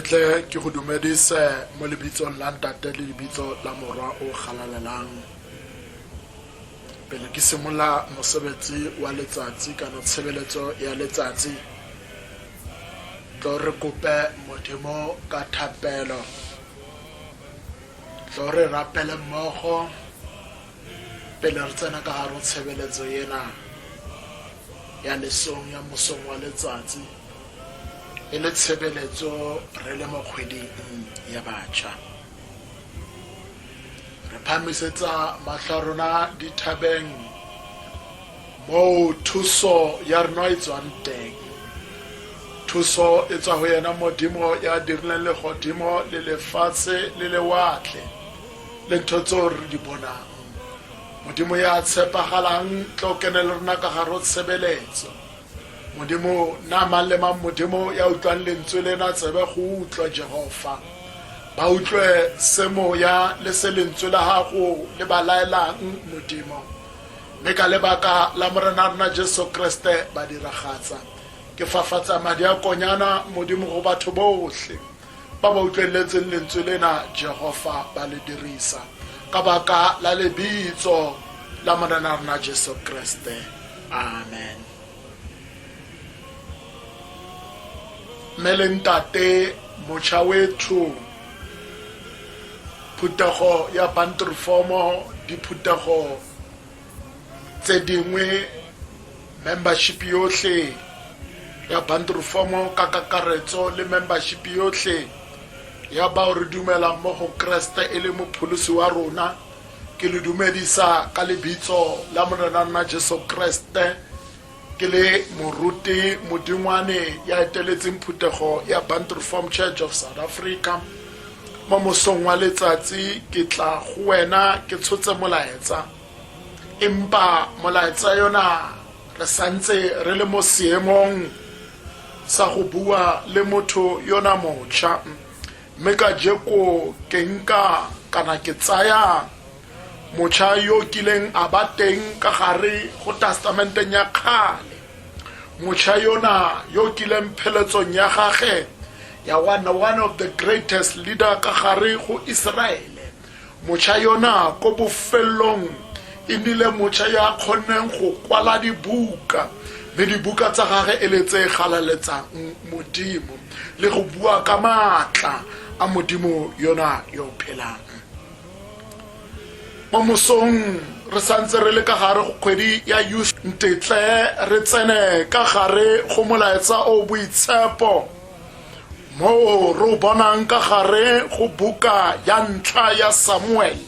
tle ke go dumedise mo lebitsong la ntate le lebitso la morwa o galalelang pele ke simolola mosebetsi wa letsatsi kana tshebeletso ya letsatsi tlo re kope modimo ka thapelo tlo re rapele mmogo Pele re tsena ka gare go tshebeletso yena ya lesong ya mosong wa letsatsi, e le tshebeletso re le mo kgweding ya batšha, re phamisetsa matlho a rona dithabeng moo thuso ya rena e tswang teng. Thuso e tswa go yena Modimo ya dirileng legodimo le lefatshe le lewatle. le ntho tseo re di bonang modimo ya tshepagalang tlo kene le rona ka gare o tshebeletso modimo na mang le mang modimo ya utlwang lentswe lena tsebe go utlwa jehova ba utlwe se moya le se lentswe la gago le ba laelang modimo mme ka lebaka la morena rona jesu kriste ba diragatsa ke fafatsa madi a konyana modimo go batho botlhe ba ba utlweletseng lentswe lena jehofa ba le dirisa ka baka la lebitso la morena rona jesu kreste amen mme le ntate mocha wethu phuthego ya bantrifomo diphuthego tse dingwe membership yotlhe ya bundle form ka kakaretso le membership yotlhe ya bao re dumelang mo go kreste e le mopholosi wa rona ke le dumedisa ka lebitso la morena nna jesu kreste Ke le moruti modingwane ya eteletseng phuthego ya Bantu Reformed Church of South Africa. Mo mosong wa letsatsi ke tla go wena ke tshotse molaetsa. Empa molaetsa yona re santse re le mo seemong sa go bua le motho yona mocha. Mme ka jeko ke nka kana ke tsaya mocha yo o kileng a ba teng ka gare go tastamenteng ya kgale mocha yona yo o kileng pheletsong ya gage ya one one of the greatest leader ka gare go iseraele mocha yona ko bofelelong e nnile mocha yo a kgonneng go kwala dibuka mme dibuka tsa gage e le tse galaletsang modimo le go bua ka maatla a modimo yona yo phelang mo mosong re santse re le ka gare go kgwedi ya youth ntetle re tsene ka gare go molaetsa o boitshepo moo re o bonang ka gare go buka ya ntlha ya samuele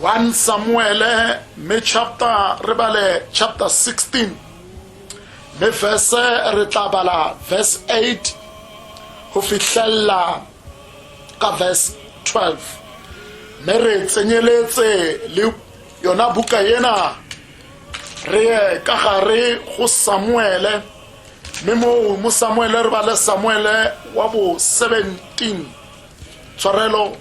1 samuele mme chapter re bale chapter 16 mme verse re tla bala verse 8 go fitlhelela ka verse 12 mme re tsenyeletse le yona buka ena re ye ka gare go samuele mme moo mo samuele re bale samuele wa bo 17 tshwarelo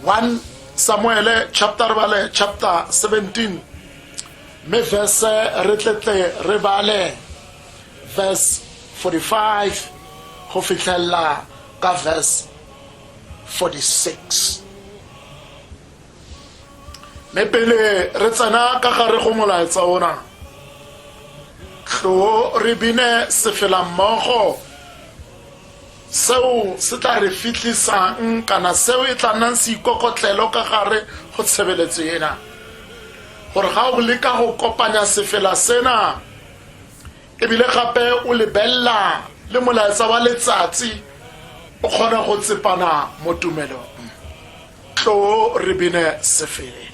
1 samuele chapter re bale chapter 17 mme verse re tletle re bale verse 45 go fitlhelela ka verse 46 mme pele re tsena ka gare go molaetsa ona tlo re bine sefelammogo Seo se tla re fitlhisang kana seo e tla nnang seikokotlelo ka gare go tshebeletso ena gore ga o leka go kopanya sefela sena ebile gape o lebelela le molaetsa wa letsatsi o kgone go tsepana mo tumelong tlo re bene sefela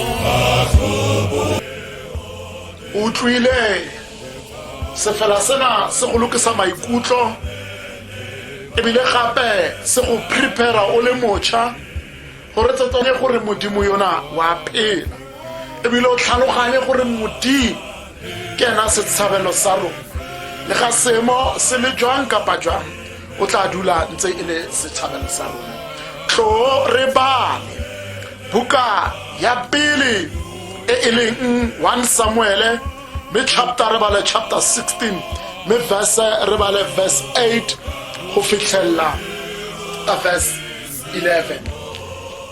utlwile sefela sena se go lokisa maikutlo ebile gape se go prepara o le mocha gore tsatsane gore modimo yona wa phela ebile o tlhaloganye gore modimo ke ena setshabelo sa rona le ga seemo se le jwang kapa jwang o tla dula ntse e le setšhabeng sa rona tlo re bale buka ya pele e e leng 1 samuele mme chapter re bale chapter 16 mme verse re bale verse 8 go fitlhelela verse 11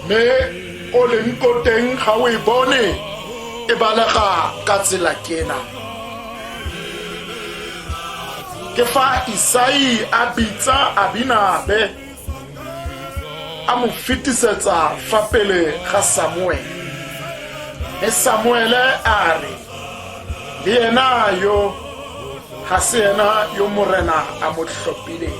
mme o leng ko teng ga o e bone e balega ka tsela kena ke fa isai a bitsa abinabe a mo fetisetsa fa pele ga samuele mme samuele a re le yena yo ga se yena yo morena a mo tlhophileng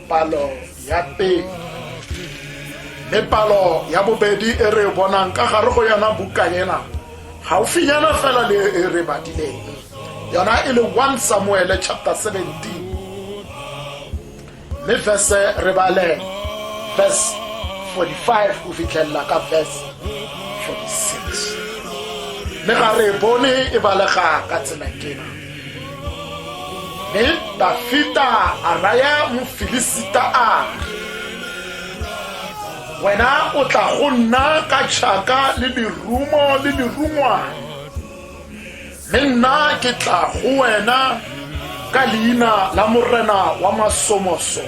palo ya pele mme palo ya bobedi e re bonang ka gare go yona buka ena gaufinyana fela le e re badileng yona e le 1 samuele chapter 17 mme verse re bale verse 45 go fitlhelela ka verse 46 mme ga re bone e balega ka tsela kena Mme Dafita a raya Mofilisita a wena o tla go nna ka tšhaka le lerumo le lerungwane mme nna ke tla go wena ka leina la morena wa masomoso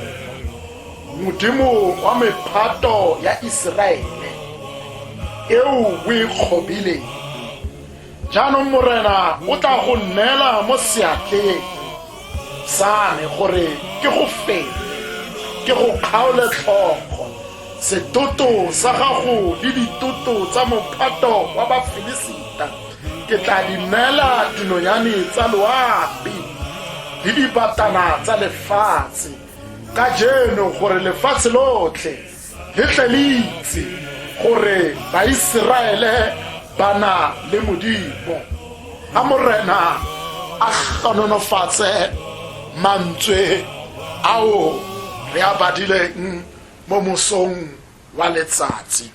modimo wa mephato ya iseraele eo o e kgobileng jaanong morena o tla go nneela mo seatleng sa me gore ke go fete ke go kgaole tlhogo setoto sa gago le ditoto tsa mophato wa bafilisita ke tla di neela dinonyane tsa loapi le dibatana tsa lefatshe ka jeno gore lefatshe lotlhe le tle le itse gore baiseraele ba na le modimo a morena a ganonofatse mantswe ao re a badileng mo mosong wa letsatsi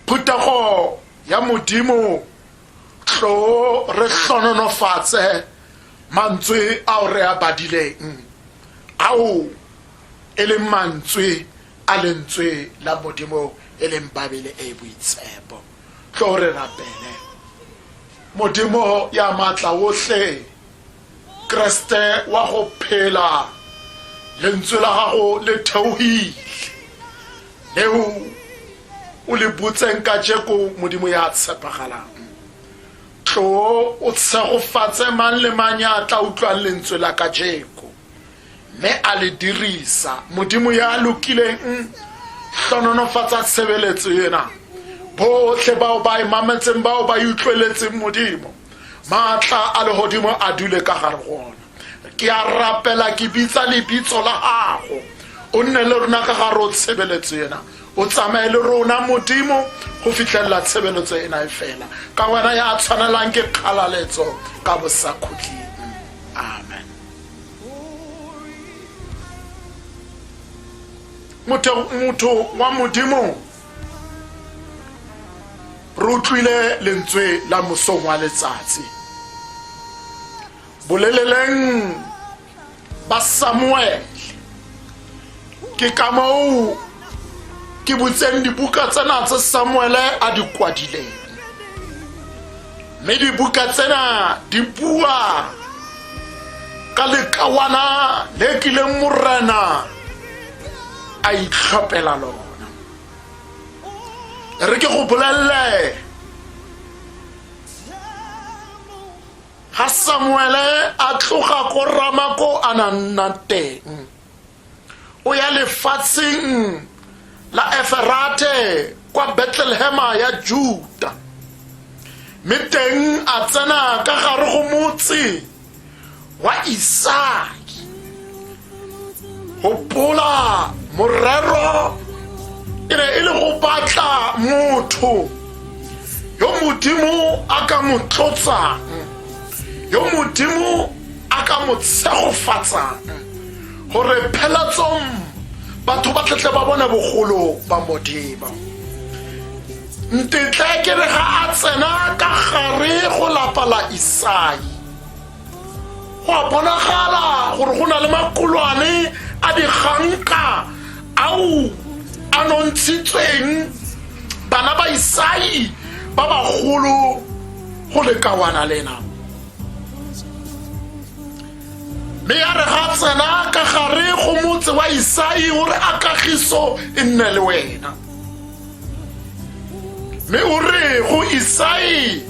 phuthego ya modimo tlo re hlononofatse mantswe ao re a badileng ao e leng mantswe a lentswe la modimo e leng babele e e boitshepo tlo re rapele modimo ya maatla otlhe kreste wa go phela lentswe la gago le theogile leo o le butseng ka jeko modimo ya tshepagalang tlo o tshegofatse mang le mang ya tla utlwang lentswe la ka jeko mme a le dirisa modimo ya lokileng hlononofatsa tshebeletso ena botlhe bao ba e mametseng bao ba e utlweletseng modimo maatla a legodimo a dule ka gare gona ke a rapela ke bitsa lebitso la gago o nne le rona ka gare o tshebeletso ena o tsamaye le rona modimo go fitlhelela tshebeletso ena e fela ka wena ya tshwanelang ke kgalaletso ka bosakhutleng amen motho motho wa modimo re utlwile lentswe la mosong wa letsatsi boleleleng ba samuele ke ka moo ke butseng dibuka tsena tse samuele a di kwadileng mme dibuka tsena di bua ka lekawana le kileng morena a itlhopela lona re ke go bolelele ga samuele a tloga ko rama ko a na nna teng o ya lefatsheng la eferate kwa betlelehema ya juda mme teng a tsena ka gare go motse wa isake gopola morero e ne e le go batla motho yo modimo a ka mo tlotsang yo modimo a ka mo tshegofatsang gore phelatsong batho ba tletle ba bone bogolo ba modimo ntetle ke re ga a tsena ka gare go lapa la isai go a bonagala gore go na le makolwane a diganka ao a nontshitsweng bana ba isai ba bagolo go lekawana lena mme ya re ga tsena ka gare go motse wa isai o re a kagiso e nne le wena mme o re go isai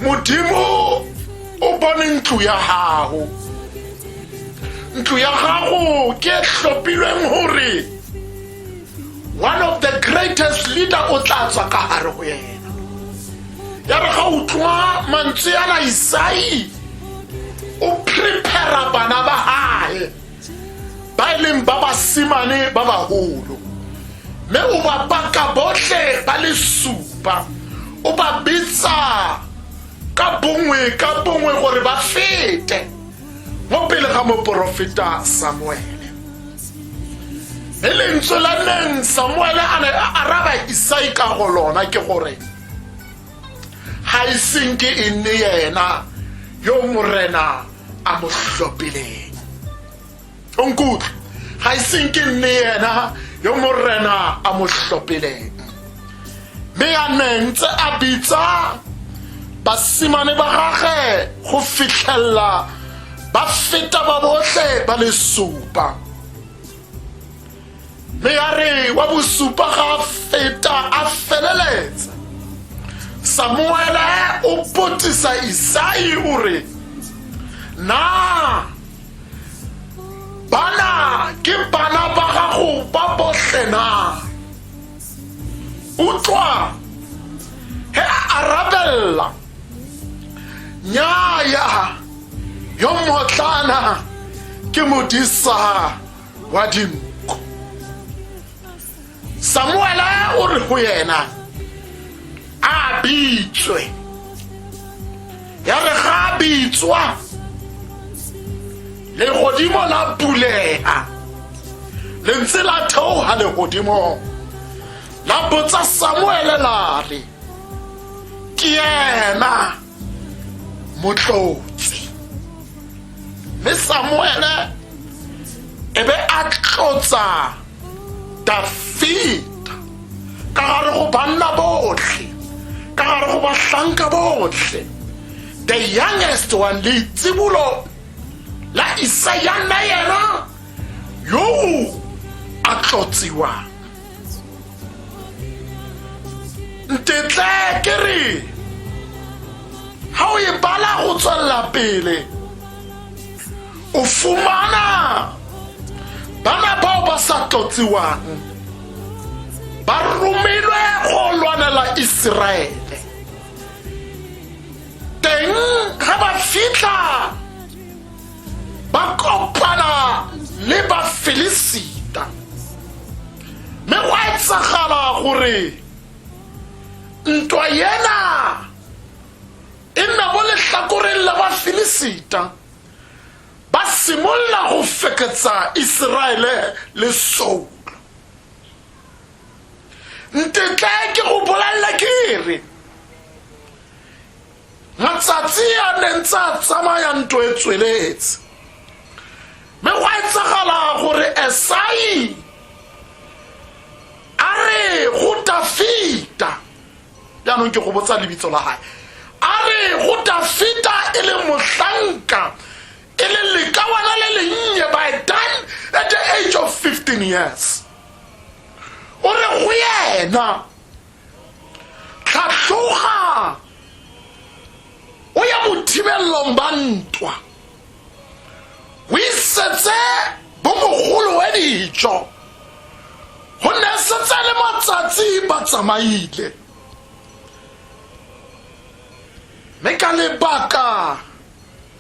modimo o bone ntlo ya gago ntlo ya gago ke e tlhophilweng gore one of the greatest leader o tla tswa ka gare go yena ya re ga utlwa mantswe yana isai o prepara bana ba gae ba e leng ba basimane ba bagolo mme o ba baka botlhe ba le supa o ba bitsa ka bongwe ka bongwe gore ba fete mo pele ga moporofeta samuele e lentswe la neng samuele a ne a araba isai ka go lona ke gore ga iseng ke e nne yena yo morena a mo tlhophileng o nkutlwe ga e seng ke nne ena yo morena a mo tlhophileng mme a neng tse a bitsa basimane ba gage go fitlhelela ba feta ba botlhe ba le supa mme ya re wa bosupa ga a feta a feleletsa samuele o potisa isai o re na bana ke bana ba gago ba botlhe na utlwa he a arabelela nyaya yo motlana ke modisa wa dinku samuela o re go yena a bitswe ya re ga a bitswa legodimo la bulega lentse la theoga legodimong la botsa samuele la re ke yena motlotsi mme samuele e be a tlotsa dafita ka gare go banna botlhe ka gare go bahlanka botlhe the youngest one leitsibulo la isaya nna yena yo a tlotsiwang ntetle ke re ga o e bala go tswelela pele o fumana bana bao ba sa tlotsiwang ba romilwe go lwanela iseraele teng ga ba fitlha ba kopana le bafilisita mme go a etsagala gore ntwa yena e nna mo letlhakoreng la bafilisita ba simolola go feketsa iseraele le soulo ntetla ke go bolelela ke re matsatsi a ne ntse a tsamaya nto e tsweletse mme go etsagala gore esai a re go dafita jaanong ke go botsa lebitso la gae a re go dafita e le mohlanka e le lekawana le lennye by done at the age of 15 years o re go yena tlhatloga o ya bothibelelong ba ntwa o isetse bomogolo we dijo go ne setse le matsatsi ba tsamaile mme ka lebaka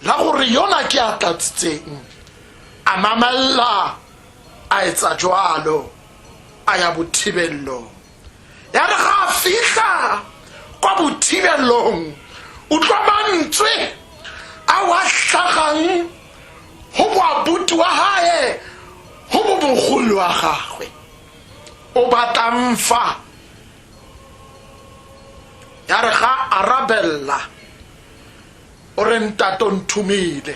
la gore yona ke a tlatsitseng a mamelela a etsa jwalo a ya bothibelelong ya re ga a fitlha kwa bothibelong utlwa mantswe a wa tlhagang go moabuti wa gae go bo bogolo wa gagwe o batlang fa ya re ga arabella o re ntato nthumile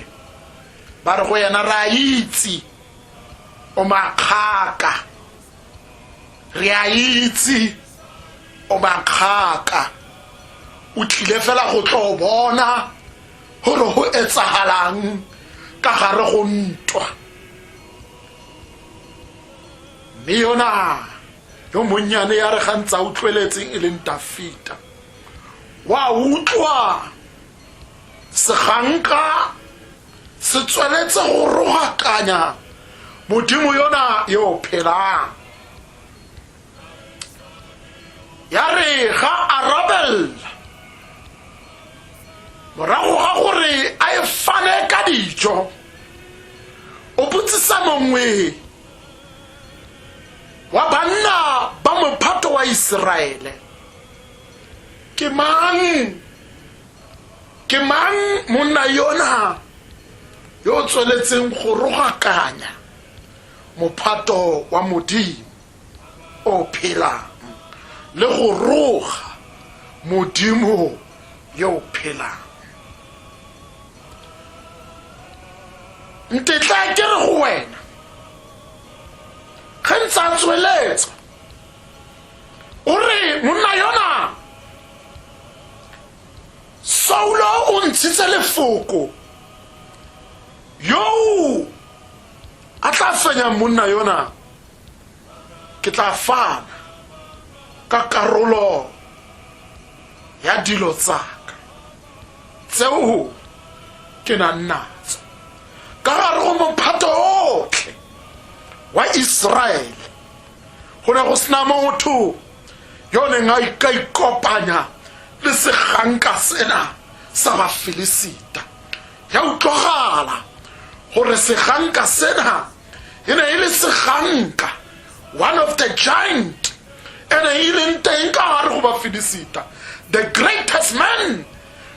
ba re go yena re a itse o makgaka re a itse o makgaka o tlile fela go tlo bona gore go etsagalang ka gare go ntwa mme yona yo monnyane ya re gantsa utlweletseng e leng dafita wa utlwa seganka se tsweletse go rogakanya modimo yona yo o phelang ya re ga arabelela morago ga gore a e fane ka dijo o botsisa mongwe wa banna ba mophato wa iseraele ke mang ke mang monna yona yo o tsweletseng go rogakanya mophato wa modimo o phelang le go roga modimo yo o phelang ntetla ke re go wena ge ntse a tsweletsa o re monna yona Saulo o ntshitse lefoko yoo a tla fenyang monna yona ke tla fana ka karolo ya dilo tsaka tseo ke nang natso ka gare go mophato otlhe wa iseraele go ne go sena motho yo o neng a ika ikopanya le seganka sena sa bafilisita ya utlwagala gore seganka sena e ne e le seganka one of the giant e ne e leng teng ka gare go bafilisita the greatest man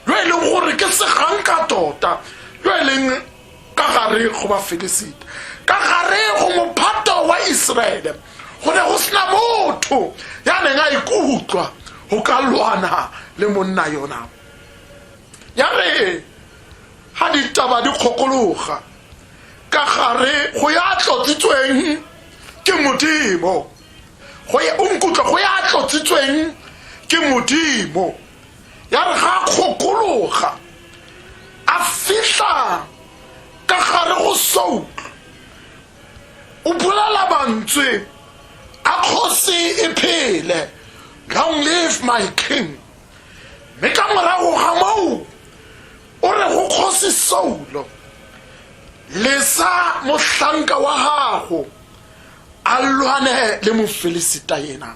yo e leng gore ke seganka tota yo e leng ka gare go bafelesita ka gare go mophato wa iseraele go ne go sena motho ya neng a ikutlwa go ka lwana le monna yona ya re ga ditaba di kgokologa ka gare go ya tlotsitsweng ke modimo go ya- o nkutlwa go ya tlotsitsweng ke modimo ya re ga a kgokologa a fitlha ka gare go soutlo o bolela mantswe a kgosi e phele long live my king mme ka morago ga moo o re go kgosi saulo lesa mohlanka wa gago a lwane le mofelisita yena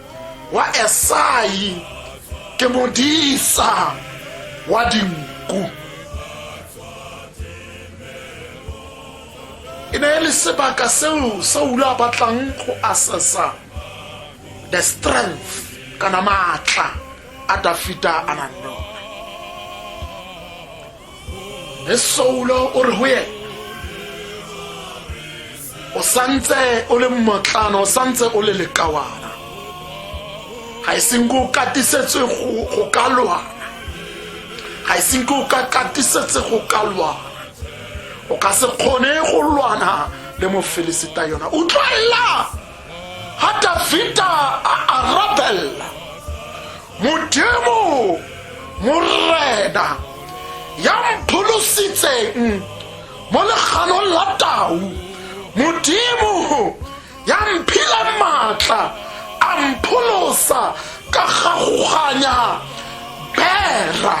wa esai ke modisa wa dinku e ne e le sebaka seo saula a batlang go assessa the strength kana maatla a dafita a nang le one le soulo o re go ena o santse o le mmotlana o santse o le lekawana ga e seng ke o katisetse go ka lwana ga e seng ke o ka katisetse go ka lwana o ka se kgone go lwana le mofelisita yona o tlwaela ga davida a arabella modimo morena ya mpholositseng mo leganong la tau modimo ya mphile maatla a mpholosa ka gagoganya bera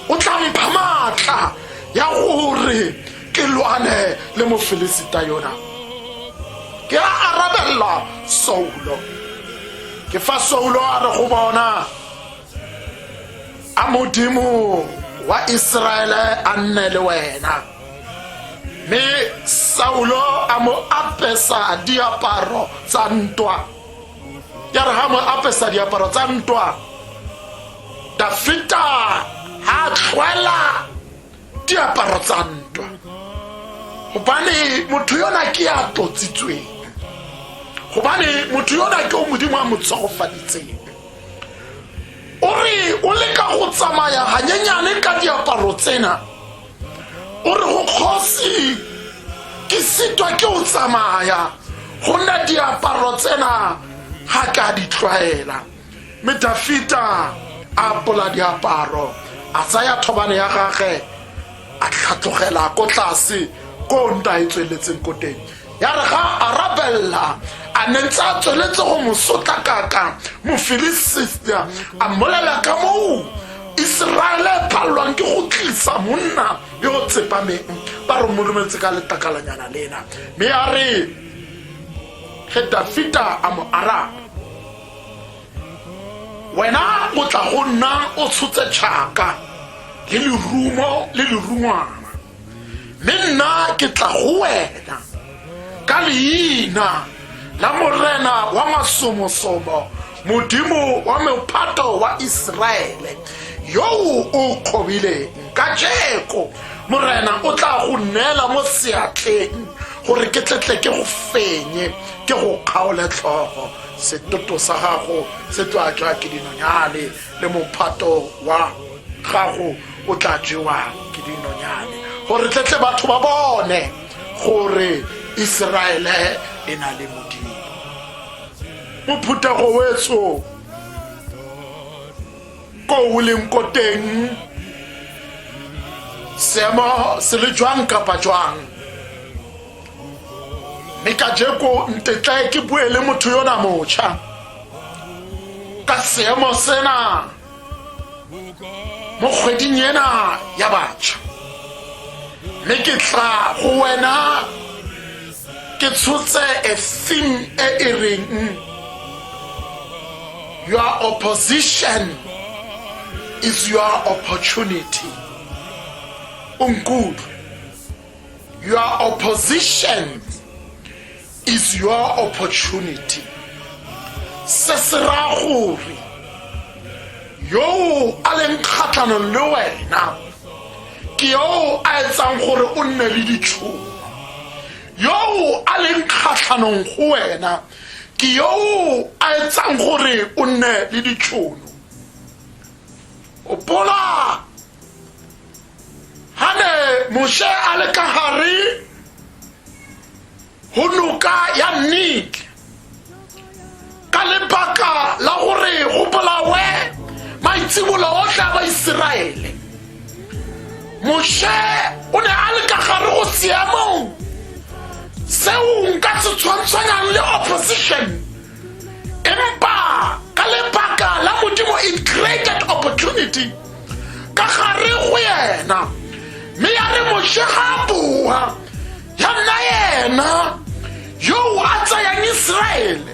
o tla mpha maatla ya gore ke lwane le mofelesita yona ke a arabella saulo ke fa saulo a re go bona a modimo wa iseraele a nne le wena mme saulo a mo apesa diaparo tsa ntwa ya re ga mo apesa diaparo tsa ntwa dafita ga tlhwela diaparo tsa ntwa gobane motho yona ke ya totsitsweng gobane motho yona ke o modimo a mo tshogofaditseng o re o leka go tsamaya ganyenyane ka diaparo tsena o re go kgosi ke sitwa ke o tsamaya go nna diaparo tsena ga ka di tlwaela mme dafita a apola diaparo a tsaya thobane ya gage a tlhatlogela ko tlase ko nta e tsweletseng ko teng ya re ga a rabelela a ne ntse a tsweletse go mo sotlakaka mofilisita a mmolela ka moo iseraele e phalelwang ke go tlisa monna yo o tsepameng ba re molometse ka letakalanyana lena mme ya re ge dafita a mo araba wena o tla go nna o tshotse tšhaka le lerumo le lerungwana mme nna ke tla go wena ka leina la morena wa masomosomo modimo wa mophato wa iseraele yoo o kgobileng ka jeko morena o tla go neela mo seatleng gore ke tletle ke go fenye ke go kgaole tlhogo Setoto sa gago se tla ja ke dinonyane, le mophato wa gago o tla jewa ke dinonyane gore tletle batho ba bone gore iseraele e na le modimo mophuthego wetso ko o leng ko teng seemo se le jwang kapa jwang mme ka jeko ntetlae ke bue le motho yona motšha ka seemo sena mo kgweding ena ya batšha mme ke tla go wena ke tshotse a theme e e reng your opposition is your opportunity unkutlwe Your opposition is your opportunity. Se se raya gore yo a leng kgatlhanong le wena ke yo a etsang gore o nne le ditšhono yo a leng kgatlhanong go wena ke yo a etsang gore o nne le ditšhono opola ha ne moshe a le ka gare go noka ya nik ka lebaka la gore go bolawe maitsibolo otlhe a baiseraele moshe o ne a le ka gare go seemong seo nka se tshwantshwanyang le opposition epa ka lebaka la modimo it created opportunity ka gare go yena mme ya re moshe ga boa ya nna yena yo a tsayang iseraele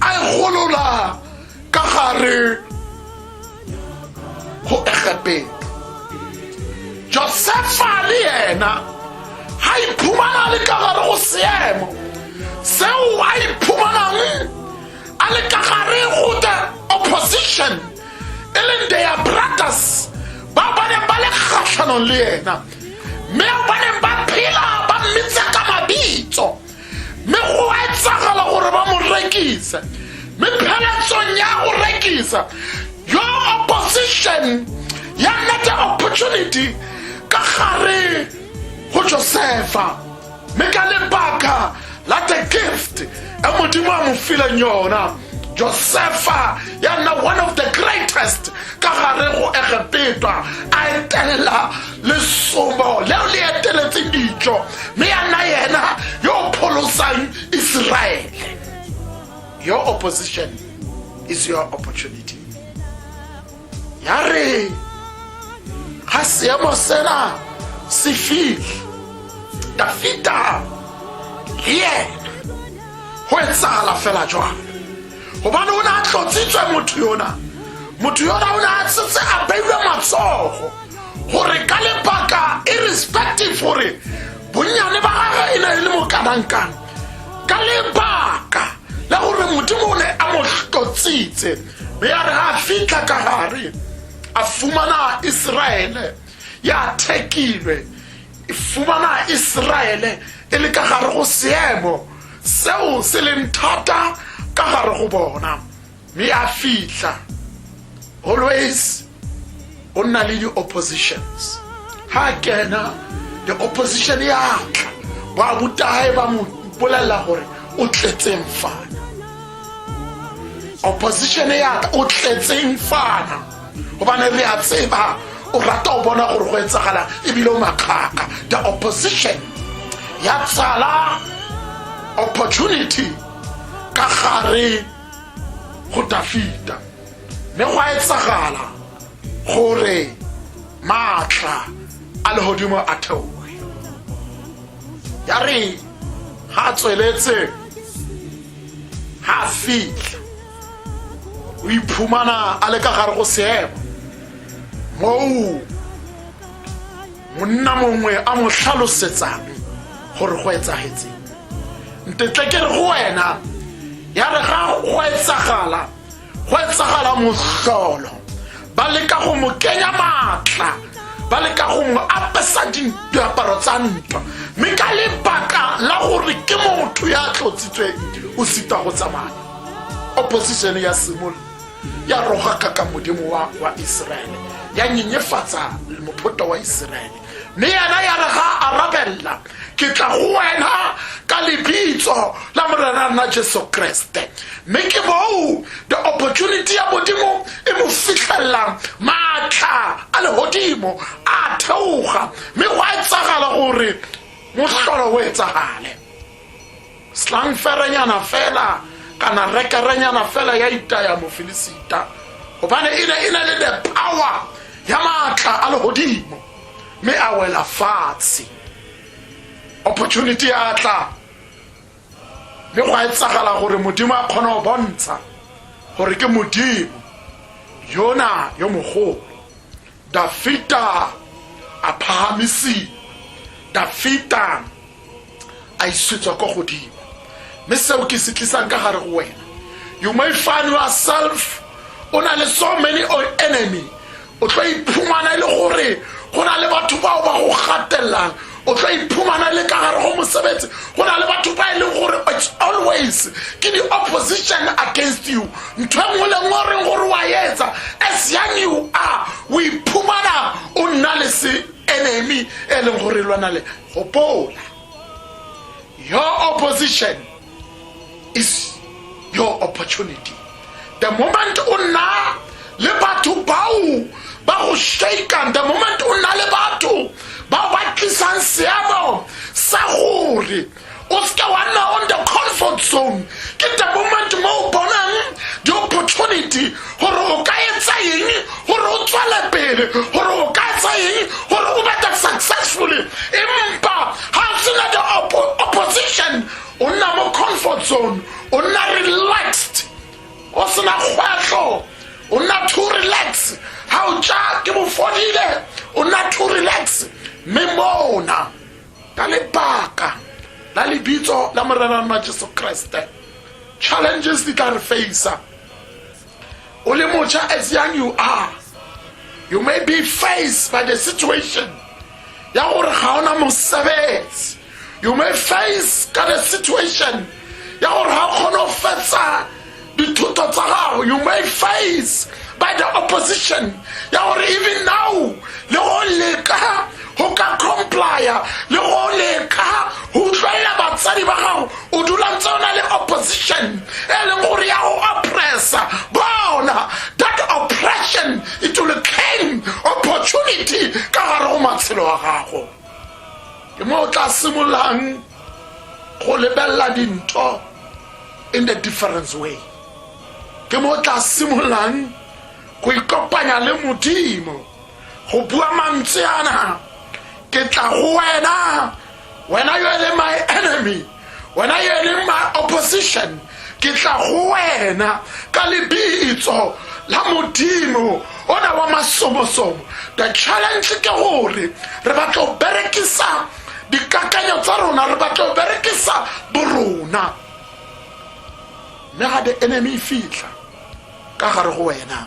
a e golola ka gare go egepeng josefa le yena ga iphumana le ka gare go seemo seo a iphumanang a le ka gare go the opposition e leng their brothers ba ba neng ba le kgatlhanong le yena mme ba neng ba phela ba mmitsa ka mabitso mme go a etsagala gore ba mo rekise mme pheletsong ya go rekisa yo opposition ya nete opportunity ka gare go josefa mme ka lebaka la the gift e modimo a mo fileng yona josefa ya nna one of the greatest ka gare go egepetwa a etelela lesomo leo le eteletse dijo mme ya nna yena yo o pholosang iseraele your opposition is your opportunity ya re ga seemo sena se fitlhe dafita le ena go etsagala fela jwang gobane o ne a tlotsitswe motho yona motho yona o ne a setse a beilwe matsogo gore ka lebaka irrespective gore bonnyane ba gage e ne e le mokanangkang ka lebaka la gore modimo o ne a mo tlotsitse be ya re a fitlha ka gare a fumana iseraele ya thekilwe e fumana iseraele e le ka gare go seemo seo se leng thata ka gare go bona mme a fitlha always o nna le di-oppositions ha kena the opposition ya tla ba butae ba mo bolelela gore o tletseng fana opposition ya tla o tletseng fana gobane re a tseba o rata o bona gore go etsagala ebile o makgaka the opposition ya tsala opportunity ka gare go dafita mme go a etsagala gore maatla a legodimo a theoe ya re ga a tsweletse ga a fitlha o iphumana a le ka gare go seemo moo monna mongwe a mo tlhalosetsang gore go etsagetseng ntetle ke re go wena ya re ga go etsagala go etsagala motlolo ba leka go mo kenya maatla ba leka go mo apesa diaparo tsa ntwa mme ka lebaka la gore ke motho ya tlotsitsweng o sita go tsamaya opposition ya simol ya roga ka ka modimo wa, wa iseraele ya nyenyefatsa mophoto wa iseraele le yena ya re ga arabelela ke tla go wena ka lebitso la morena nna jesu kreste mme ke boo the opportunity ya modimo e mo fitlhelelang maatla a legodimo a theoga mme go a etsagala gore motlholo o etsagale slangferenyana fela kana rekerenyana fela ya itaya mofilisita gobane e ne e ne le the power ya maatla a legodimo mme a wela fatshe opportunity ya tla mme go a etsagala gore modimo a kgone go bontsha gore ke modimo yona yo mogolo dafita a phahamisiwa dafita a isetswa kwa godimo mme seo ke se tlisang ka gare go wena you may find yourself o na le so many on enemy o tlo iphumana e le gore go na le batho bao ba go gatellang o tlo iphumana le ka gare go mosebetsi go na le batho ba e leng gore its always ke di-opposition against you ntho e nngwe le nngwe reng gore wa etsa as young you are o iphumana o nna le se enemy e leng gore e lwana le gopola your opposition is your opportunity the moment o nna le batho bao ba go shakan the moment o nna le batho bao ba tlisang seemo sa gore o seke wa nna on the comfort zone ke the moment mo o bonang di-opportunity gore o ka etsa eng gore o tswele pele gore o ka etsa eng gore o bete successfully empa ga o sena the opposition o nna mo comfort zone o nna relaxed o sena kgwetlho o nna too relax ga o ja ke bofodile o nna too relax mme mona ka lebaka la lebitso la morerana jesu kreste challenges di tla re facea o le mocha as young you are you may be faced by the situation ya gore ga ona mosebetsi you may face ka the situation ya gore ga kgone go fetsa dithuto tsa gago you may face by the opposition ya gore even now le go leka go ka complya le go leka go utlwelela batsadi ba gago o dula ntse o na le opposition e leng gore ya go oppressa bona that oppression it will came opportunity ka gare go matshelo a gago ke mo o tla simololang go lebelela dintho in the difference way ke mo o tla simololang go ikopanya le modimo go bua mantswe ana ke tla go wena wena yo e leng my enemy wena yo e leng my opposition ke tla go wena ka lebitso la modimo ona wa masomosomo the challenge ke gore re batlo berekisa dikakanyo tsa rona re batlo berekisa borona mme ga the enemy e fitlha ka gare go wena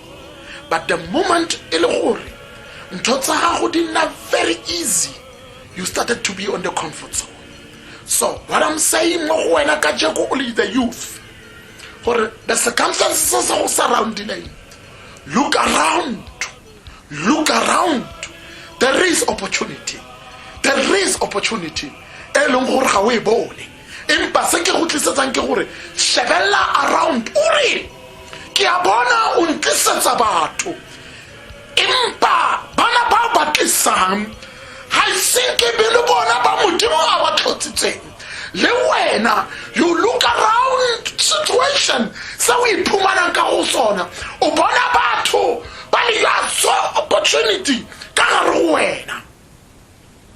but the moment e le gore ntho tsa gago di nna very easy you started to be on the comfort zone so what i'm saying mo go wena ka jeko o le the youth gore the circumstances tse se go surroundileng look around look around there is opportunity there is opportunity e leng gore ga o e bone empa se ke go tlisetsang ke gore shebelela around o re ke a bona o ntlisetsa batho empa bana ba ba tlisang ga ise ke be le bona ba modimo a ba tlhotsitseng le wena you look around situation se o iphumanang ka go sona o bona batho ba le ya so opportunity ka gare go wena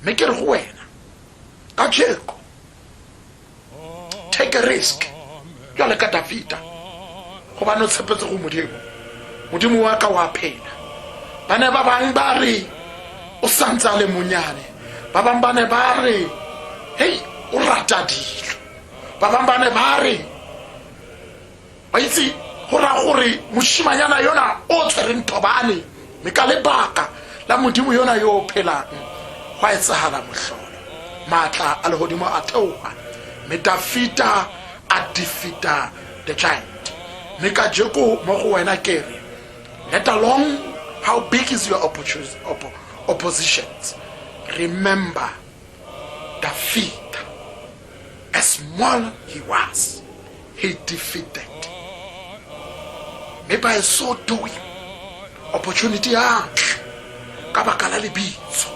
mme ke re go wena ka tšheko take a risk jale ka dafita gobane o tshepetse go modimo modimo wa ka wa phela ba ne ba bangwe ba re o santse a le monyane ba bangwe ba ne ba re hei o rata dilo ba bangwe ba ne ba re ba itse go raya gore moshimanyana yona o tshwereng thobane mme ka lebaka la modimo yona yo o phelang go a etsagala motlholo maatla a legodimo a theoga mme dafita a defita the giant mme ka jeko mo go wena kere let along how big is your oppositions remember dafita as small he was He defeated. Mme by so doing, opportunity ya tla ka baka la lebitso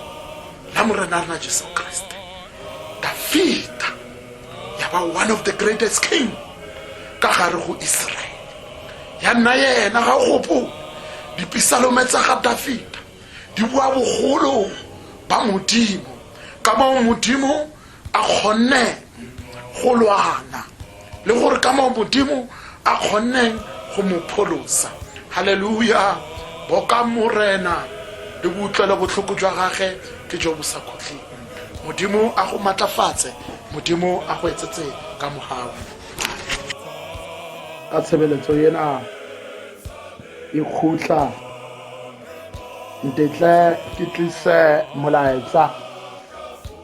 la morena rena jesu kreste dafita ya ba one of the greatest king ka gare go israele ya nna yena ga gopo dipisalome tsa ga dafita di bua bogolo ba modimo ka moo modimo a kgonne go lwana le gore ka moo modimo a kgonneng go mo pholosa halleluja boka morena le boutlwelo botlhoko jwa gage ke jo bo sa khutleng modimo a go maatlafatse modimo a go etsetse ka mogao ka tshebeletso ena e khutla ntetle ke tlise molaetsa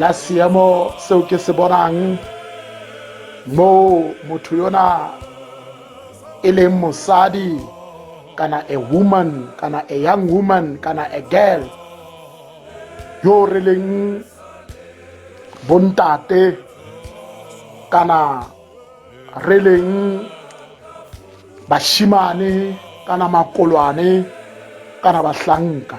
la seemo seo ke se bonang moo motho yona e leng mosadi kana a woman kana a young woman kana a girl yo o releng bontate kana re leng bashimane kana makolwane kana bahlanka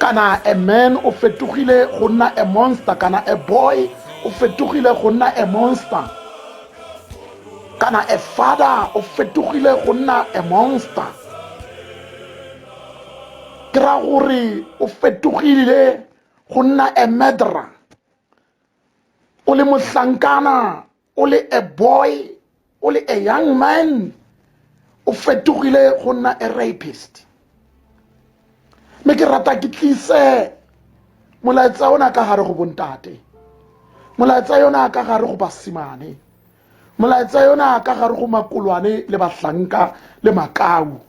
kana a man o fetogile go nna a monster kana a boy o fetogile go nna a monster kana a father o fetogile go nna a monster ke ra gore o fetogile go nna a murderer o le mohlankana o le a boy o le a young man o fetogile go nna a rapist mme ke rata ke tlise molaetsa ona ka gare go bontate molaetsa yona ka gare go basimane molaetsa yona ka gare go makolwane le bahlanka le makau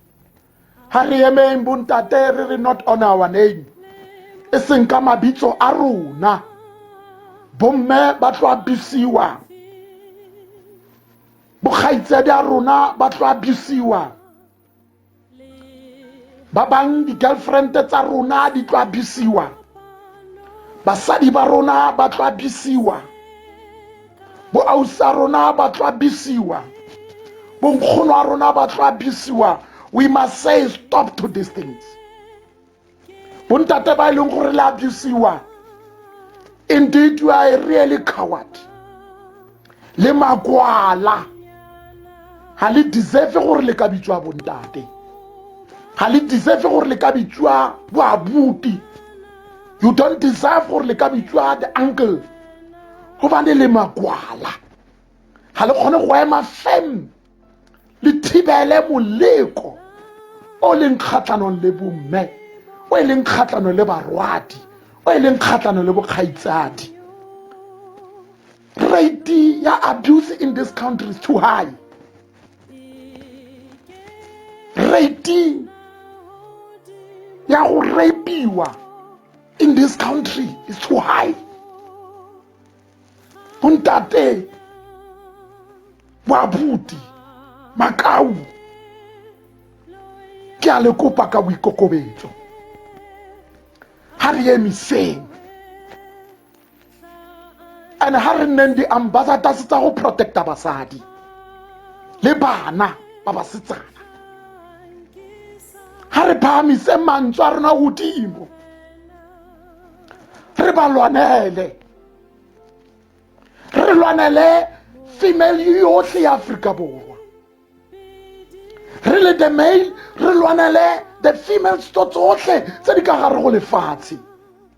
ha re emeng bontate re re not on our name e seng ka mabitso a rona bomme ba tlo abisiwa bokgaitsedi a rona ba tlo abisiwa ba bang di-girlfriend tsa rona di tlo abisiwa basadi ba rona ba tlo abisiwa boausi a rona ba tlo abisiwa bonkgono a rona ba tlo abisiwa we must say stop to these things bontate ba e leng gore le abisiwa indeed you are a really coward le makwala ga le deserve gore le ka bitswa bontate ga le deserve gore le ka bitswa boabuti you don't deserve gore le ka bitswa the uncle go ba ne le makwala ga le kgone go ema fem le thibele moleko o leng kgatlhanong le bomme o e leng kgatlhanong le barwadi o e leng kgatlhanong le bokgaitsadi rate ya abuse in this country is too high rate ya go rapiwa in this country is too high bontate boabuti makau ke a le kopa ka boikokobetso ga re emiseng and ha re nneng di-ambassadors tsa go protecta basadi le bana ba basetsana ha re phahamise mantswe a rona godimo re ba lwanele re lwanele female yotlhe ya aforika borwa re le the male re lwanele the female sto tsotlhe tse di ka gare go lefatshe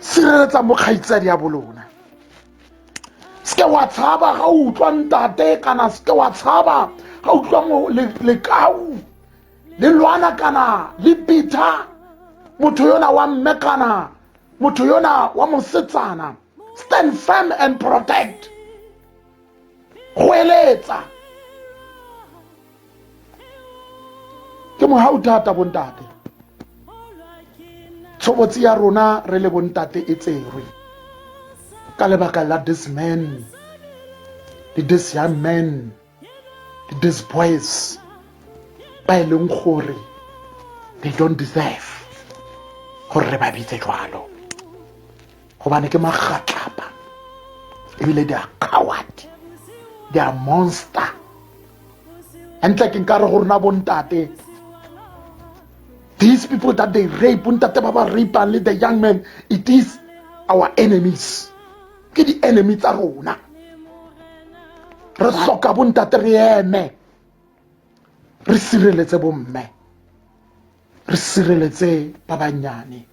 sireletsa mo kgaitsadi ya bolona seke wa tshaba ga o utlwa ntate kana seke wa tshaba ga o utlwa lekau le lwana kana le bitha motho yona wa mme kana motho yona wa mosetsana stand firm and protect go eletsa ke mo ha o thata bontate tshobotsi ya rona re le bontate e tserwe ka lebaka la this man le this young man le this boys ba e leng gore they don't deserve gore re ba bitse jwalo gobane ke magatlapa ebile di a coward di a monster entle ke nkare go rona bontate these people that they rape bontate ba ba rapang le the young man it is our enemies ke di-enemy tsa rona re tlhoka bontate re eme re sireletse bomme re sireletse ba bannyane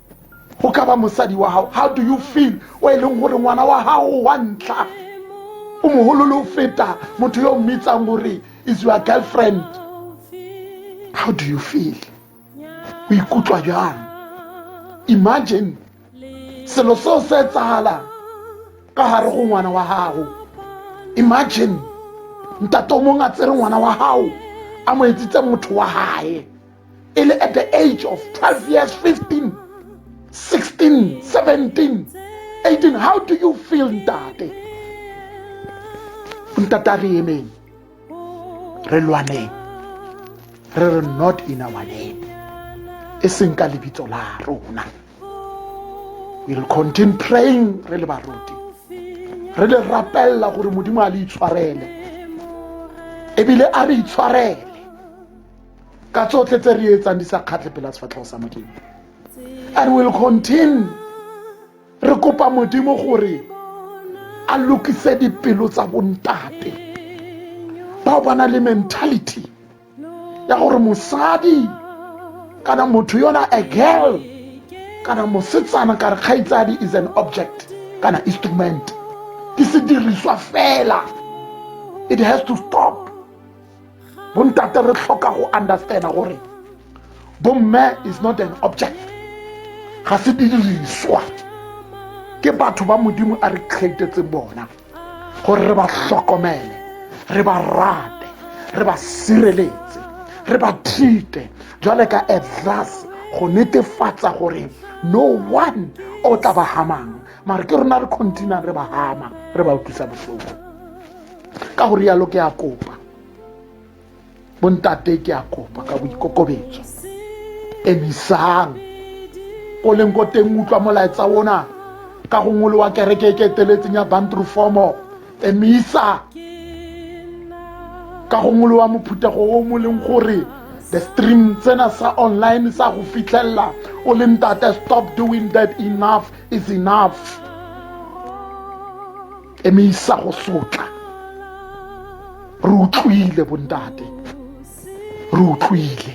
go ka ba mosadi wa gago how do you feel o e leng gore ngwana wa gago wa ntlha o mogolole o feta motho yo o mmitsang gore is your girlfriend how do you feel o ikutlwa jang imagine selo seo se etsagalang ka gare go ngwana wa gago imagine ntate o mongwe a tsere ngwana wa gago a mo etsitse motho wa gae e le at the age of 12 years 15 16 17 18 how do you feel ntate ntate a re emeng re lwaneng re re not in our name e seng ka lebitso la rona we'll continue praying re le baruti re le rapella gore modimo a le itshwarele ebile a re itshwarele ka tsotlhe tse re etsang di sa kgatlhe pela sefatlhego sa modimo and will continue re kopa modimo gore a lokise dipelo tsa bontate bao ba na le mentality ya gore mosadi kana motho yona a girl kana mosetsana ka re kgaitsadi is an object kana instrument ke sediriswa fela it has to stop bontate re tlhoka go understanda gore bomme is not an object ga se didiriswa ke batho ba modimo a re createtseng bona gore re ba tlhokomele re ba rate re ba sireletse re ba thite jwale ka a glass go netefatsa gore no one o tla ba hamang mare ke rona re continua re ba hama re ba utlwisa botlhoko ka go rialo ke a kopa bontate ke a kopa ka boikokobetso emisang ko leng ko teng utlwa molaetsa ona ka go ngolo wa kereke e ke eteletseng ya bantru formo emisa ka go ngolo wa mophuthego o mo leng gore the stream tsena sa online sa go fitlhelela o le ntate stop doing that enough is enough e me isa go sotla re utlwile bontate re utlwile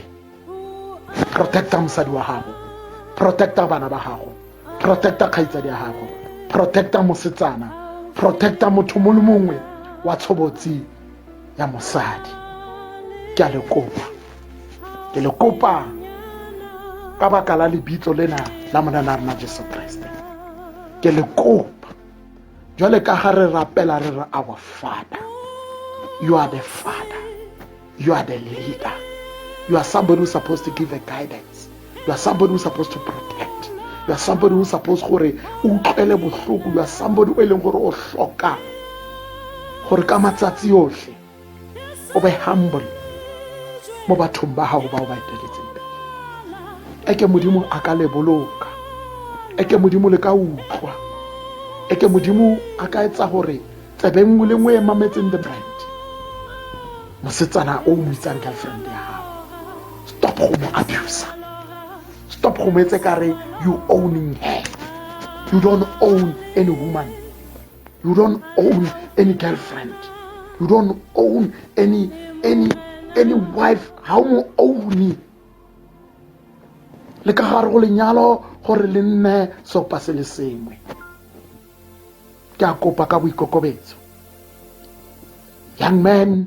protecta mosadi wa gago protecta bana ba gago protecta kgaitsadi ya gago protecta mosetsana protecta motho mo le mongwe wa tshobotsi ya mosadi ke a le kopa ke le kopa ka baka la lebitso lena la monana rena jesu kreste ke le kopa jwale ka ga re rapela re re our father you are the father you are the leader you are somebody who's supposed to give a guidance you are somebody who's supposed to protect you are somebody who's supposed gore o utlwele botlhoko you are somebody o e leng gore o tlhoka gore ka matsatsi otlhe o be humble mo bathong ba gago ba o ba eteletseng pele eke modimo a ka le boloka eke modimo le ka utlwa eke modimo a ka etsa gore tsebe nngwe le nngwe e mametseng the brand mosetsana o mo itsang girlfriend ya gago stop go mo abusa stop go mo etse kare you owning her you don't own any woman you don't own any girlfriend you don't own any any any wife ga o mo own le ka gare go lenyalo gore le nne sopa se le sengwe ke a kopa ka boikokobetso young man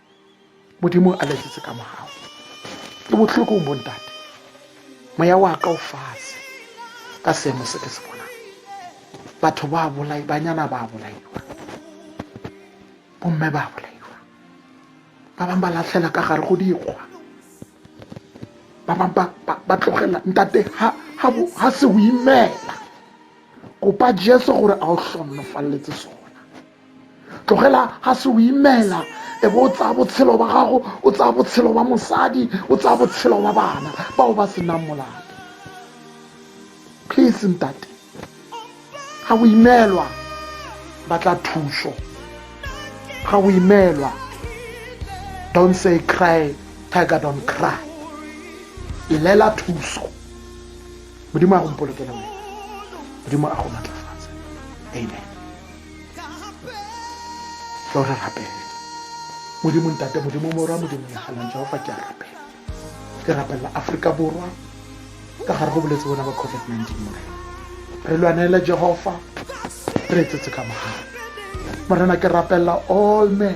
modimo a letsetse ka mogago ke botlhoko o bontate moya wa ka o fatshe ka seemo se ke se bonang batho ba bolai banyana ba bolaiwa bomme ba bolaiwa ba bangwe ba latlhela ka gare go dikgwa ba bangwe ba tlogela ntate ga se o imela kopa jesu gore a o tlhonofaleletse sone tlogela ga se o imela e bo o tsaya botshelo ba gago o tsaya botshelo ba mosadi o tsaya botshelo ba bana bao ba senang molato please ntate ga o imelwa batla thuso ga o imelwa don't say cry tiger don't cry ilela thuso modimo a go mpolokele wena modimo a go matlafatse amen tlo re rapele modimo ntate modimo morwa modimo legalang jehofa ke a rapela ke rapelela aforika borwa ka gare go boletse bona ba covid-19 morena re lwanele jehofa re etsetse ka mogare morena ke rapelela all men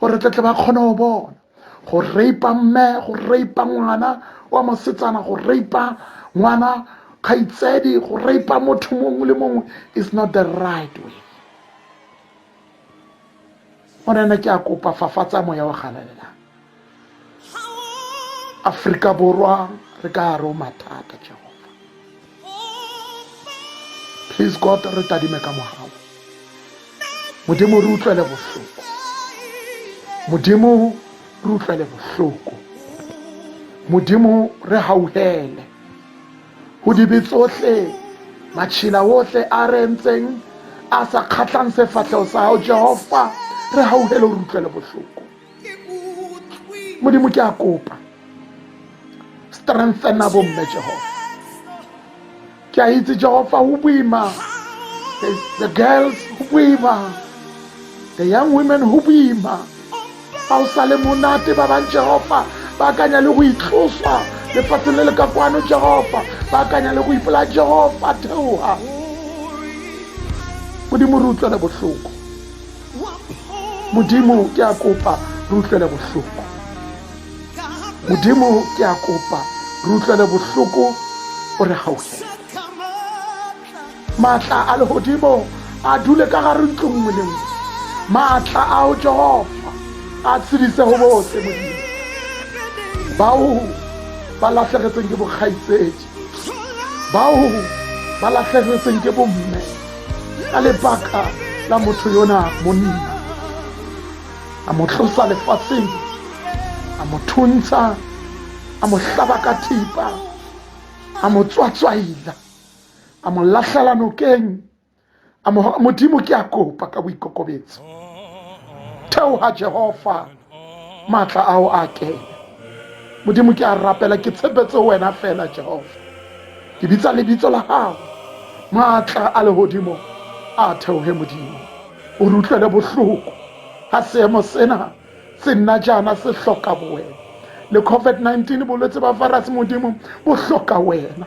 gore tletle ba kgone go bona go reipa mme go reipa ngwana wa mosetsana go reipa ngwana kgaitsedi go reipa motho mongwe le mongwe is not the right way morena ke a kopa fafatsa moya wa galalela aforika borwa re ka gare o mathata jehova please god re tadime ka mogago modimo re utlwele bohloko modimo re utlwele bohloko modimo re gauhele go dibe tsotlhe matšhila otlhe a re ntseng a sa kgatlhang sefatlhego sa gago jehova re gauhele o re utlwele bohloko modimo ke a kopa strengthena bomme jehofa ke a itse jehofa o boima the girls o boima the young women go boima ga o sa le monate ba bang jehofa ba akanya le go itloswa lefatsheng le le ka kwano jehofa ba akanya le go ipolaya jehofa theoga modimo re utlwele botlhoko modimo ke a kopa re utlwele bohloko modimo ke a kopa re utlwele bohloko o re gautlhele maatla a legodimo a dule ka gare ntlo nngwe le nngwe maatla ao jehova a tshedise go botlhe modimo bao ba latlhegetseng ke bokgaitsedi bao ba latlhegetseng ke bomme ka lebaka la motho yona monna a mo tlosa lefatsheng a mo thuntsha a mo hlaba ka thipa a mo tswatswaila a mo latlhela nokeng a modimo ke a kopa ka boikokobetso theoga jehova maatla ao a kene modimo ke a rapela ke tshepetse wena fela jehova ke bitsa lebitso la gago maatla a legodimo a theoge modimo o re utlwele bohloko ga seemo sena se nna jaana se hloka bowena le covid-19 bolwetse ba virus modimo bo hloka wena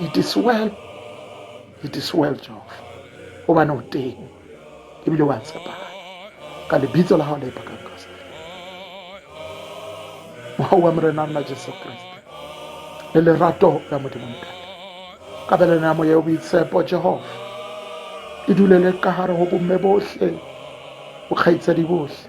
it is well it is well jehova o bane o teng ebile wa tshepagala ka lebitso la gago le ipakang kriste mogago wa morena nna jesu kriste le lerato la modimo ntate ka belena ya moya o boitshepo jehova e dulele ka gare go bomme botlhe bokgaitsadi botlhe